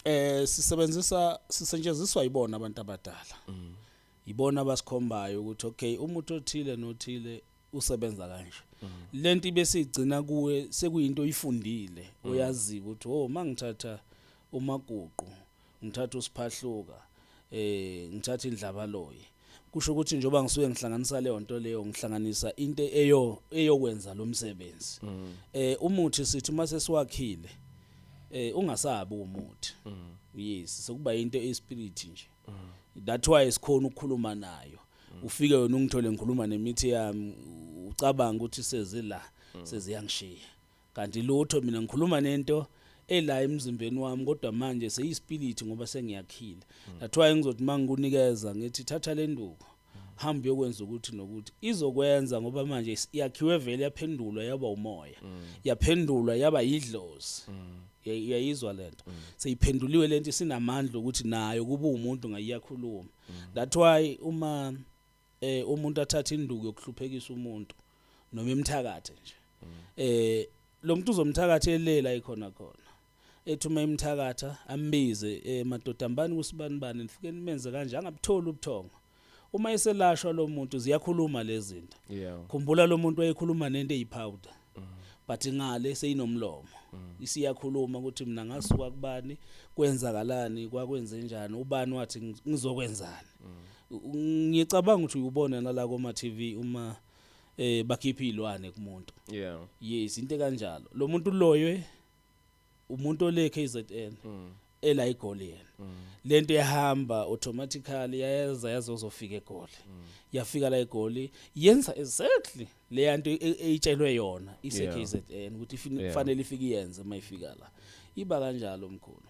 eh sisebenzisa sisetshenziswa yibona abantu abadala mm. yibona abasikhombayo ukuthi okay umuntu othile nothile usebenza kanje mm. lento ibesigcina kuwe sekuyinto oyifundile mm. oyazi ukuthi oh mangithatha umaguqu ngithatha usiphahluka eh ngithatha indlabaloyi kusho ukuthi njengoba ngisuke ngihlanganisa leyo nto leyo ngihlanganisa into eyo eyokwenza lo msebenzi mm. eh umuthi sithi uma sesiwakhile eh ungasabi umuthi mm. yes sokuba into espirit nje mm. that why sikhona ukukhuluma nayo ufike wena ungithole ngikhuluma nemithi yami ucabanga ukuthi sezila seziyangishiya Kanti lutho mina ngikhuluma nento ela emzimbeni wami kodwa manje seyispility ngoba sengiyakhile. Hmm. That's why ngizothi mangikunikeza ngithi thatha le nduku. hamba uyokwenza ukuthi nokuthi izokwenza ngoba manje yakhiwe vele yaphendulwa yaba umoya mm. yaphendulwa yaba yidlozi mm. yayizwa lento mm. seyiphenduliwe lento sinamandla ukuthi nayo kuba umuntu ngayiyakhuluma that why uma eh umuntu athatha induku yokuhluphekisa umuntu noma imthakathe nje eh lo muntu uzomthakatha elela ikhona khona ethuma imthakatha ambize eh madoda mbani kusibani bani nifike nimenze kanje angabutholi ubuthongo uma eselashwa lo muntu ziyakhuluma lezinto yeah khumbula lo muntu wayekhuluma nento eyipowder but ngale seyinomlomo isiyakhuluma ukuthi mina ngasuka kubani kwenzakalani kwakwenze njani ubani wathi ngi- ngizokwenzani ngiyacabanga ukuthi uyubona nala koma TV uma eh bakhipha izilwane kumuntu yeah yes into kanjalo lo muntu uloywe umuntu ole KZN mm. ela igoli yena mm. lento yahamba automatically yayeza yazozofika egoli mm. yafika la egoli yenza exactly le nto e, e, eyitshelwe yona ise KZN ukuthi kufanele ifike yenze mayifika la iba kanjalo mkhulu